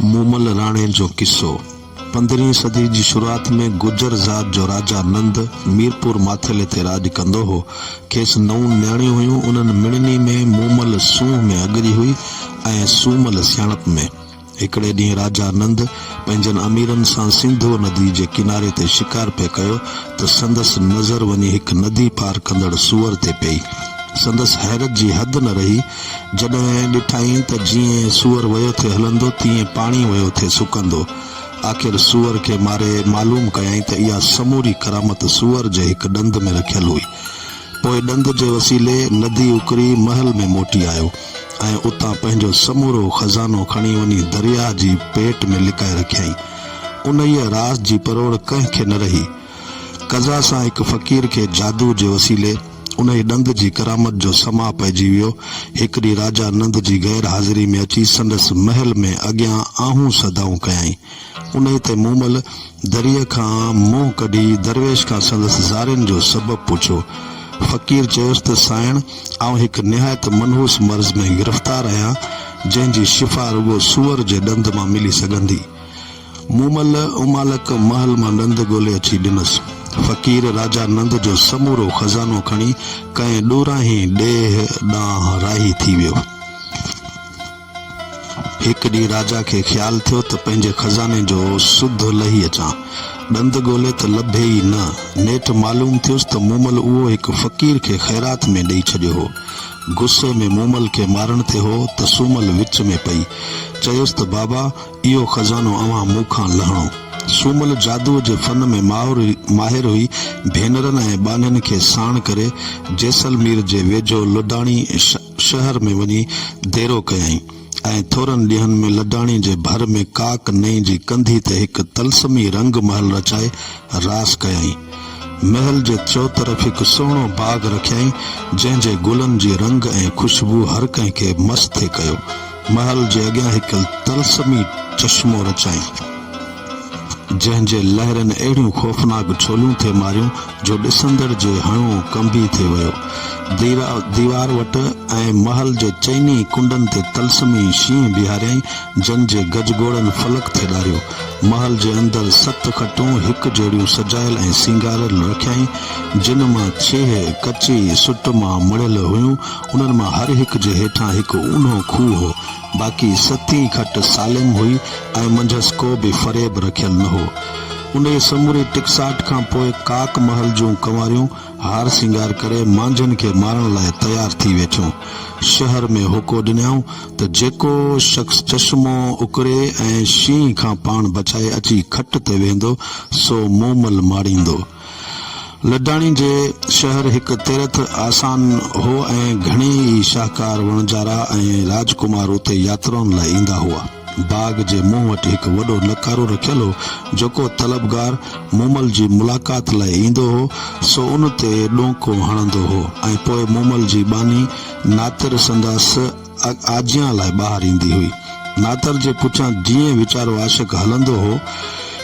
مومل راڻي جو قصو، پندرهين صدي جي شروعات ۾ گجر ذات جو راجا نند ميرپور ماٿيلي تي راڄ ڪندو هو. کيس نو نياڻيون هيون. انهن مڙني ۾ مومل سونهن ۾ اڳري هئي ۽ سومل سياڻپ ۾. هڪڙي ڏينهن راجا نند پنهنجن اميرن سان سنڌوء ندي جي ڪناري تي شڪار پئي ڪيو ته سندس نظر وڃي هڪ ندي پار ڪندڙ سوئر تي پئي. سندس حيرت جي حد نه رهي. جڏهن ڏٺائين ته جيئن سوئر ويو ٿي هلندو تيئن پاڻي ويو ٿي سڪندو. آخر سوئر کي ماري معلوم ڪيائين ته اها سموري ڪرامت سوئر جي هڪ ڏند ۾ رکيل هئي. پوء ڏند جي وسيلي ندي اڪري محل ۾ موٽي آيو ۽ اتان پنهنجو سمورو خزانو کڻي وڃي درياهه جي پيٽ ۾ لڪائي رکيائين. انهيء راز جي پروڙ ڪنهن کي نه رهي. قضا سان هڪ فقير کي جادو جي وسيلي انهيء ڏند جي ڪرامت جو سماع پئجي ويو. هڪ ڏينهن راجا نند جي غير حاضري ۾ اچي سندس محل ۾ اڳيان آهون صدائون ڪيائين. انهيء تي مومل دريء کان منهن ڪڍي درويش کان سندس زارين جو سبب پڇيو. فقير چيس ته سائڻ آئون هڪ نهايت منحوس مرض ۾ گرفتار آهيان، جنهن جي شفا رڳو سوئر جي ڏند مان ملي سگهندي. مون مل امالڪ محل مان ڏند ڳولي اچي ڏنس. فقير راجا نند جو سمورو خزانو کڻي ڪنهن ڏورانهين ڏيهه ڏانهن راهي ٿي ويو. هڪ ڏينهن راجا کي خيال ٿيو ته پنهنجي خزاني جو سڌ لهي اچان. ڏند ڳولي ته لڀي ئي نه. نيٺ معلوم ٿيس ته مومل اهو هڪ فقير کي خيرات ۾ ڏئي ڇڏيو هو. غصي ۾ مومل کي مارڻ تي هو ته سومل وچ ۾ پئي چيس ته بابا! اهو خزانو اوهان مون کان لهڻو. سومل جادوء جي فن ۾ ماهر هئي، ڀينرن ۽ ٻانهن کي ساڻ ڪري جيسلمير جي ويجهو لڊاڻي شهر ۾ وڃي ديرو ڪيائين ۽ ٿورن ڏينهن ۾ لڊاڻي جي ڀر ۾ ڪاڪ نئين جي ڪنڌي تي هڪ طلسمي رنگ محل رچائي راس ڪيائين. محل جي چوطرف هڪ سهڻو باغ رکيائين، جنهن جي گلن جي رنگ ۽ خوشبوء هر ڪنهن کي مست ٿي ڪيو. محل جي اڳيان هڪ طلسمي چشمو رچائين، جنهن جي لهرن اهڙيون خوفناڪ ڇوليون ٿي ماريون، جو ڏسندڙ جي هڻئون ڪنبي ٿي ويو. ديرا ديوار وٽ ۽ محل جي چئني ڪنڊن تي طلسمي شينهن بيهاريائين، جن جي گجگوڙن فلڪ ٿي ڏاريو. محل جي اندر ست کٽون هڪ جهڙيون سجايل ۽ سينگاريل رکيائين، جن مان ڇيهه ڪچي سٽ مان مڙهيل هيون. انهن مان هر هڪ جي هيٺان هڪ اونهو کوهه هو. باقي ستين کٽ سالم هئي ۽ منجهس ڪو به فريب رکيل نه هو. انهيء سموري ٽڪساٽ کان پوء ڪاڪ محل جون ڪنواريون هار سينگار ڪري مانجهن کي مارڻ لاء تيار ٿي ويٺيون. شهر ۾ هوڪو ڏنيائون ته جيڪو شخص چشمو اڪري ۽ شينهن کان پاڻ بچائي اچي کٽ تي ويهندو، سو مومل ماڙيندو. لڊاڻي جي شهر هڪ تيرٿ آسان هو ۽ گهڻي ئي شاهڪار وڻجارا ۽ راجڪمار اتي ياترائن لاء ايندا هئا. باغ جي منهن وٽ هڪ وڏو نقارو رکيل هو، جيڪو طلبگار مومل جي ملاقات لاء ايندو هو، سو ان تي ڏونڪو هڻندو هو ۽ پوء مومل جي ٻانهي ناتر سندس اڳ آجيان لاء ٻاهر ايندي هئي. ناتر جي پٺيان جيئن ويچارو عاشق هلندو هو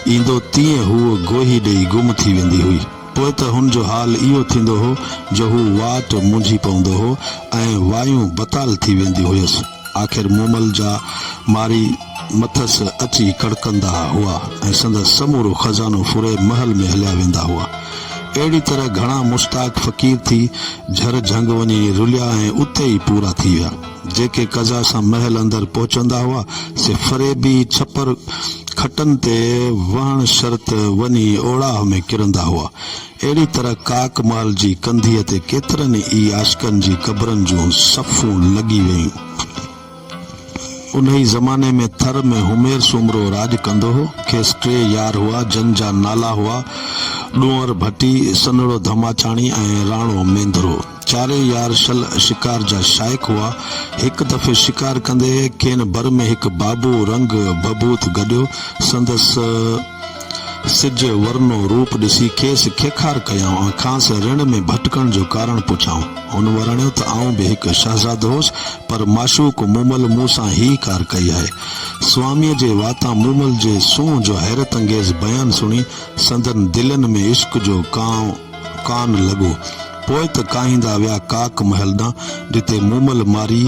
ايندو تيئن هوء گوهي ڏيئي گم ٿي ويندي هئي. پوء ته هن جو حال اهو ٿيندو هو جو هو واٽ مونجهي پوندو هو ۽ وايون بتال ٿي وينديون هيس. آخر مومل جا ماري. مٿس اچي ڪڙڪندا هئا ۽ سندس سمورو خزانو ڦري محل ۾ هليا ويندا هئا. اهڙي طرح گهڻا مشتاق فقير ٿي جهر جهنگ وڃي رليا ۽ اتي ئي پورا ٿي ويا. جيڪي قضا سان محل اندر پهچندا هئا، سي فريبي ڇپر کٽن تي وهڻ شرط وڃي اوڙاهه ۾ ڪرندا هئا. اهڙي طرح ڪاڪ محل جي ڪنڌيء تي ڪيترن ئي عاشقن جي قبرن جون صفون لڳي ويون. انهيء زماني ۾ ٿر ۾ همير سومرو راڄ ڪندو هو. کيس ٽي يار هئا، جن جا نالا هئا، ڏونئر ڀٽي، سنهڙو ڌماچاڻي ۽ راڻو مينڌرو. چارئي يار شل شڪار جا شائق هئا. هڪ دفعي شڪار ڪندي کين بر ۾ هڪ بابو رنگ ڀڀوت گڏيو. سندس. سج ورنو روپ ڏسي کيس کيکار ڪيائون ۽ کانئس رڻ ۾ ڀٽڪڻ جو ڪارڻ پڇيائون. هن ورڻيو ته آئون به هڪ شهزادو هوس، پر معشوق مومل مون سان هيء ڪار ڪئي آهي. سواميء جي واتان مومل جي سونهن جو حيرت انگيز بيان سڻي سندن دلين ۾ عشق جو ڪانء ڪان لڳو. پوء ته ڪاهيندا ويا ڪاڪ محل ڏانهن، جتي مومل مارئي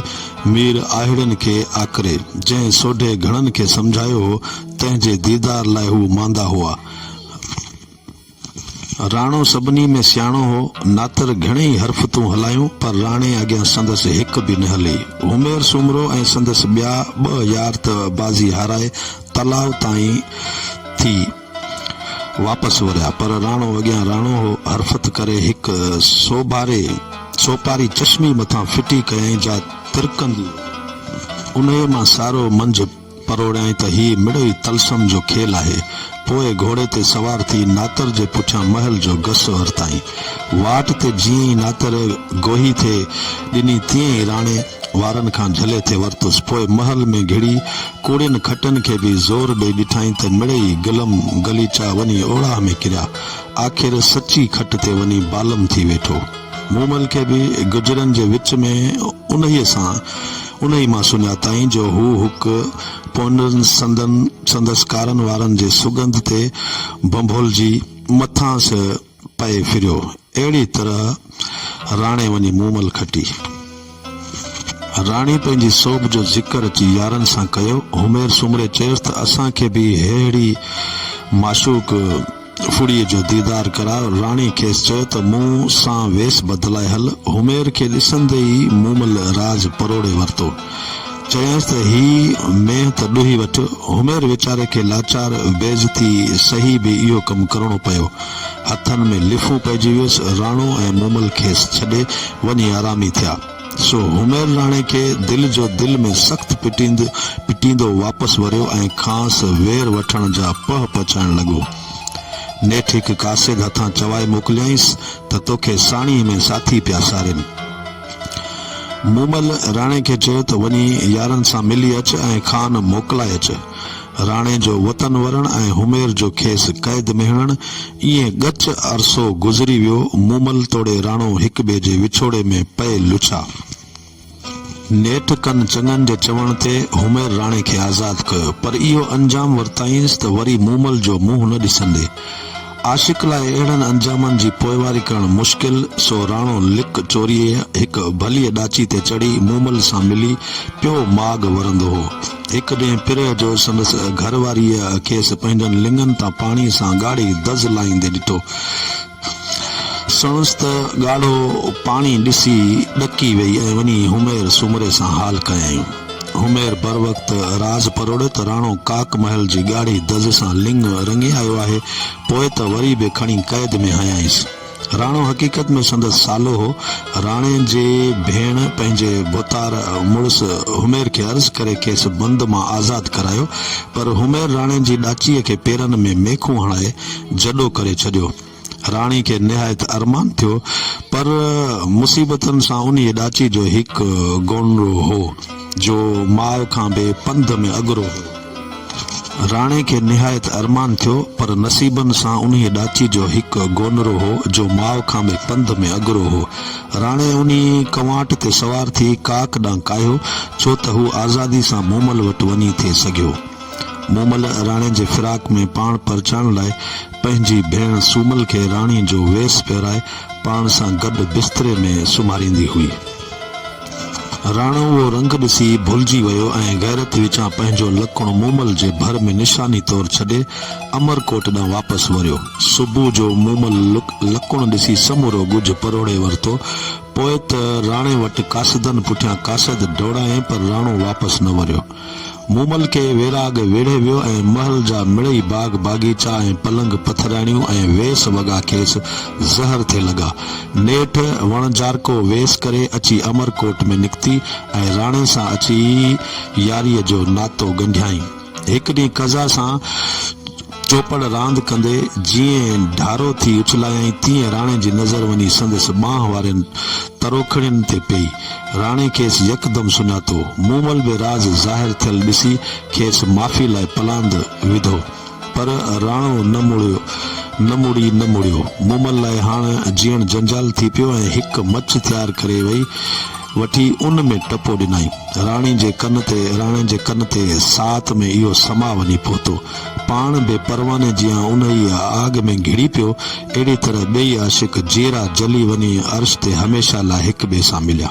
مير آهيڙن کي آڪري، جنهن سوڍي گهڻن کي سمجهايو هو تنهن جي ديدار لاء هو ماندا هئا. راڻو سڀني ۾ سياڻو هو. ناتر گهڻيئي حرفتون هلايون، پر راڻي اڳيان سندس هڪ به نه هلي. همير سومرو ۽ سندس ٻيا ٻه يار ته بازي هارائي تلاء تائين ٿي واپس وريا، پر راڻو اڳيان راڻو هو. حرفت ڪري هڪ سوڀاري سوپاري چشمي مٿان ڦٽي ڪيائين، جا ترڪندي انهيء مان سارو منجهه. پروڙيائين ته هي مڙئي طلسم جو کيل آهي. پوء گهوڙي تي سوار ٿي ناتر جي پٺيان محل جو گس ورتائين. واٽ تي جيئن ئي ناتر گوهي ٿي ڏني تيئن ئي راڻي وارن کان جهلي ٿي ورتس. پوء محل ۾ گهڙي ڪوڙين کٽن کي به زور ڏئي ڏٺائين ته مڙئي گلم غليچا وڃي اوڙاهه ۾ ڪريا. آخر سچي کٽ تي وڃي بالم ٿي ويٺو. مومل کي به گجرن جي وچ ۾ انهيء سان. انهيء مان سڃاتائين جو هو هڪ پونئرن سندن سندس ڪارن وارن جي سڳنڌ تي ڀنڀولجي مٿانئس پئي ڦريو. اهڙيء طرح راڻي وڃي مومل کٽي. راڻي پنهنجي سوڀ جو ذڪر اچي يارن سان ڪيو. همير سومري چيس ته اسان کي به ههڙي معشوق ڦڙي جو ديدار ڪراء. راڻي کيس چيو ته مون سان ويس بدلائي هل. حمير کي ڏسندي ئي مومل راز پروڙي ورتو. چيائينس ته هي مينهن ته ڏوهي وٺ. حمير ويچاري کي لاچار بيعزتي سهي به اهو ڪم ڪرڻو پيو. هٿن ۾ لفون پئجي ويس. راڻو ۽ مومل کيس ڇڏي وڃي آرامي ٿيا. سو همير راڻي کي دل جو دل ۾ سخت پٽيندو پٽيندو واپس وريو ۽ کانئس وير وٺڻ جا پهه پڇائڻ لڳو. نيٺ هڪ قاصد هٿان چوائي موڪليائينس ته توکي ساڻيهه ۾ ساٿي پيا سارين. مومل راڻي کي چيو ته وڃي يارن سان ملي اچ ۽ خان موڪلائي اچ. راڻي جو وطن ورڻ ۽ همير جو کيس قيد ۾ هڻڻ، ائين ڳچ عرصو گذري ويو. مومل توڙي راڻو هڪ ٻئي جي وڇوڙي ۾ پئي لڇا. نيٺ ڪن چڱن جي چوڻ تي همير راڻي کي آزاد ڪيو، پر اهو انجام ورتائينس ته وري مومل جو منهن نه ڏسندي. عاشق لاء اهڙن انجامن جي پوئواري ڪرڻ مشڪل، سو راڻو لڪ چوريء هڪ ڀليء ڏاچي تي چڙهي مومل سان ملي پيو ماڳ ورندو هو. هڪ ڏينهن پرهه جو سندس گهر واريء کيس پنهنجن لڱن تان پاڻي سان ڳاڙهي دز لائيندي ڏٺو. سڻس ته ڳاڙهو پاڻي ڏسي ڏڪي ويئي ۽ وڃي همير سومري سان حال ڪيائين. همير بروقت راز پروڙيو ته راڻو ڪاڪ محل جي ڳاڙهي دز سان لڱ رڱي آيو آهي، پوء ته وري به کڻي قيد ۾ هنيائينس. راڻو حقيقت ۾ سندس سالو هو. راڻي جي ڀيڻ پنهنجي ڀوتار مڙس حمير کي عرض ڪري کيس بند مان آزاد ڪرايو، پر حمير راڻي جي ڏاچيء کي پيرن ۾ ميخون هڻائي جڏو ڪري ڇڏيو. راڻي کي نهايت ارمان ٿيو، پر مصيبتن سان انهيء ڏاچي جو هڪ گونڙو هو، جو ماء کان به پنڌ ۾ اڳرو هو. راڻي کي نهايت ارمان ٿيو، پر نصيبن سان انهيء ڏاچي جو هڪ گونرو هو، جو ماء کان به پنڌ ۾ اڳرو هو. راڻي انهيء ڪنواٽ تي سوار ٿي ڪاڪ ڏانهن ڪاهيو، ڇو ته هو آزادي سان مومل وٽ وڃي ٿي سگهيو. مومل راڻي جي فراق ۾ پاڻ پرچائڻ لاء پنهنجي ڀيڻ سومل کي راڻي جو ويس پهرائي پاڻ سان گڏ بستري ۾ سمهاريندي هئي. راڻو اهو رنگ ڏسي ڀلجي ويو ۽ غيرت وچان پنهنجو لڪڻ مومل جي ڀر ۾ نشاني طور ڇڏي امرڪوٽ ڏانهن واپس وريو. صبح جو مومل لڪڻ ڏسي سمورو ڳجهه پروڙي ورتو. پوء ته راڻي وٽ قاصدن پٺيان قاصد ڊوڙايائين پر راڻو واپس نه وريو. مومل کي ويراڳ ويڙهي ويو ۽ محل جا مڙئي باغ باغيچا ۽ پلنگ پٿرياڻيون ۽ ويس وڳا کيس زهر ٿي لڳا. نيٺ وڻجارڪو ويس ڪري اچي امر ڪوٽ ۾ نڪتي ۽ راڻي سان اچي ياريء جو ناتو ڳنڍيائين. هڪ ڏينهن قضا سان. چوپڙ راند ڪندي جيئن ڍارو ٿي اڇلايائين تيئن راڻي جي نظر وڃي سندس ٻانهن وارين تروکڙين تي پئي. راڻي کيس يڪدم سڃاتو. مومل به راز ظاهر ٿيل ڏسي کيس معافي لاء پلاند وڌو. پر راڻو نه مڙيو نه مڙي نه مڙيو. مومل لاء هاڻ جيئڻ جنجال ٿي پيو ۽ هڪ مچ تيار ڪري وئي وٺي ان ۾ ٽپو ڏنائين. راڻي جي ڪن تي راڻي جي ڪن تي ساعت ۾ اهو سماء وڃي پهتو. پاڻ به پرواني جيان انهيء آڳ ۾ گهڙي پيو، اهڙيء طرح ٻئي عاشق جيئرا جلي وڃي عرش تي هميشه لاء هڪ ٻئي سان مليا.